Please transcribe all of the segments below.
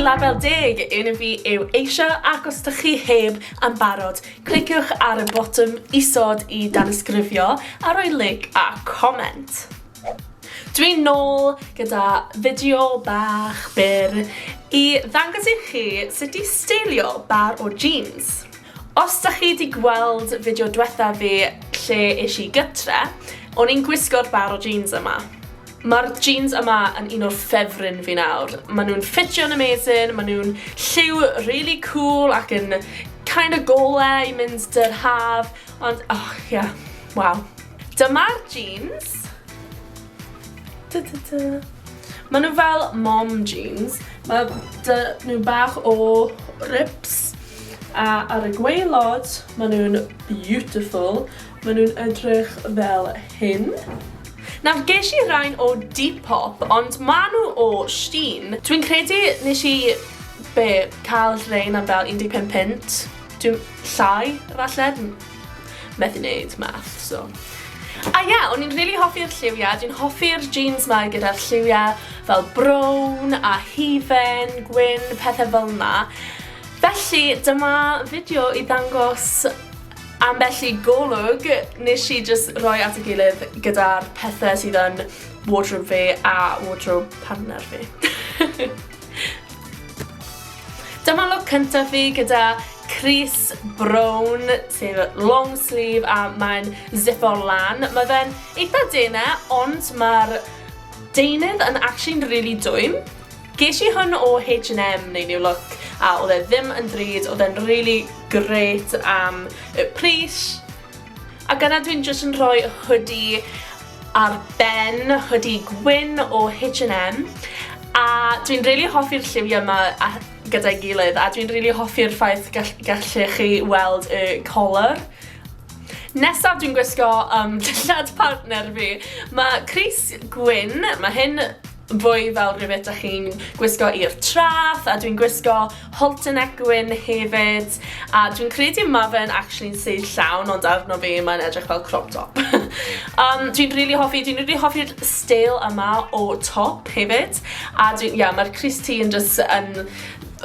Label Deg, un fi yw Asia, ac os ydych chi heb am barod, cliciwch ar y botwm isod i danysgrifio a rhoi lig a comment. Dwi'n nôl gyda fideo bach byr i ddangos i chi sut i steilio bar o jeans. Os da chi di gweld fideo dwetha fi lle ish i gytre, o'n i'n gwisgo'r bar o jeans yma. Ma'r jeans yma yn un o'r ffefryn fi nawr. Ma nhw'n ffitio'n amazing, ma nhw'n lliw really cool ac yn kind of gola i mynd dy'r haf, ond oh yeah, waw. Dyma'r jeans. Ta ta ta. Maen nhw fel mom jeans. Mae dy nhw bach o rips. A ar y gweilod, maen nhw'n beautiful. Maen nhw'n edrych fel hyn. Nawr, ges i rain o Depop, ond maen nhw o Shein. Dwi'n credu nes i, be, cael rain am fel 15 punt. Dwi'n, llai, falle? methu neud math, so. A ie, yeah, o'n i'n really hoffi'r lliwiau, dwi'n hoffi'r jeans mae gyda'r lliwiau fel brown a hufen, gwyn, pethau fel yna. Felly, dyma fideo i ddangos am felly golwg nes i just roi at y gilydd gyda'r pethau sydd yn wardrobe fi a wardrobe partner fi. Dyma look cyntaf fi gyda Cris Brown, sef long sleeve a mae'n zipo lan. Mae fe'n eitha dene, ond mae'r deunydd yn actually'n really dwym. Ges i hwn o H&M neu New Look, a oedd e ddim yn drud, oedd e'n really great am y pris. Ac yna dwi'n jyst yn rhoi hoodie ar ben, hoodie gwyn o H&M, a dwi'n rili hoffi'r lliwiau yma a- gyda'i gilydd, a dwi'n rili hoffi'r ffaith gall- gallech chi weld y colur. Nesaf dwi'n gwisgo yym dillad partner fi. Ma' crys gwyn, ma' hyn Fwy fel rhywbeth dych chi'n gwisgo i'r traeth, a dwi'n gwisgo halter neck gwyn hefyd, a dwi'n credu ma fe'n actually'n size llawn, ond arno fi mae'n edrych fel crop top. um, dwi'n really hoffi, dwi'n really hoffi'r stael yma o top hefyd, a dwi'n, yeah, mae'r Chris T yn just yn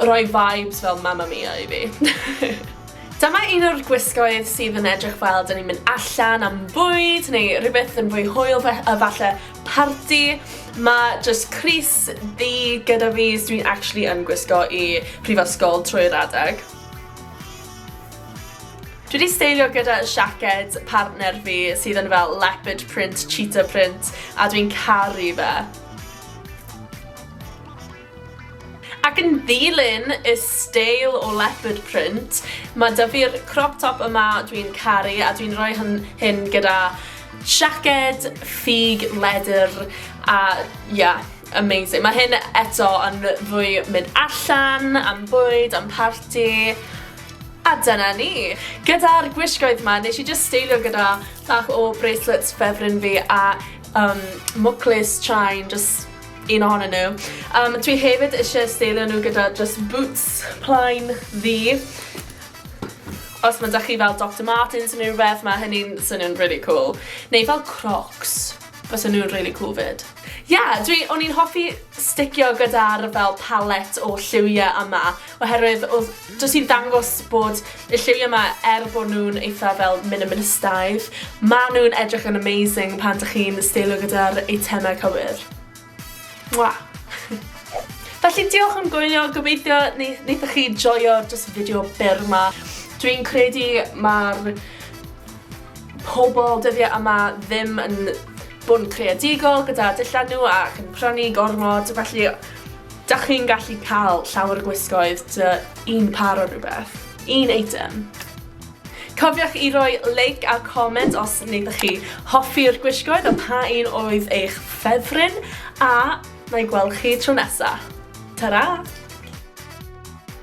rhoi vibes fel Mamma Mia i fi. Dyma un o'r gwisgoedd sydd yn edrych fel dyn ni'n mynd allan am bwyd neu rhywbeth yn fwy hwyl a falle Parti, mae jyst crys ddu gyda fi so dwi'n actually yn gwisgo i prifysgol trwy'r adeg. Dwi wedi steilio gyda siaced partner fi sydd yn fel leopard print, cheetah print a dwi'n caru fe. Ac yn ddilyn y steil o leopard print, mae da fi'r crop top yma dwi'n caru a dwi'n rhoi hyn, hyn gyda siaced, ffug, ledr a ia, amazing. Mae hyn eto yn fwy mynd allan, am bwyd, am parti a dyna ni. Gyda'r gwisgoedd ma, nes i just steilio gyda bach o bracelets ffefryn fi a um, mwclis chain, just un ohonyn nhw. Um, dwi hefyd eisiau steilio nhw gyda just boots plain ddi. Os mae da chi fel Dr Martens yn rhywbeth, mae hynny'n swnio'n really cool. Neu fel Crocs, fes yn nhw'n really cool fyd. Ie, yeah, dwi, o'n i'n hoffi sticio gyda'r fel palette o lliwiau yma, Oherwydd odd... Jyst i ddangos bod y lliwie 'ma er bo' nw'n eitha fel minimalistaidd, ma' nw'n edrych yn amazing pan dych chi'n steilio gyda'r eitemau cywir. Mwah! Felly diolch am gwylio, gobeithio neu- neithoch chi joio jyst y fideo byr 'ma. Dwi'n credu ma'r pobl dyddiau yma ddim yn bod yn creadigol gyda dillad nhw ac yn prynu gormod, felly da chi'n gallu cael llawer o gwisgoedd dy un par o rhywbeth, un eitem. Cofiwch i roi like a comment os wnaethoch chi hoffi'r gwisgoedd a pa un oedd eich ffefryn, a na i gweld chi tro nesaf. Ta-ra!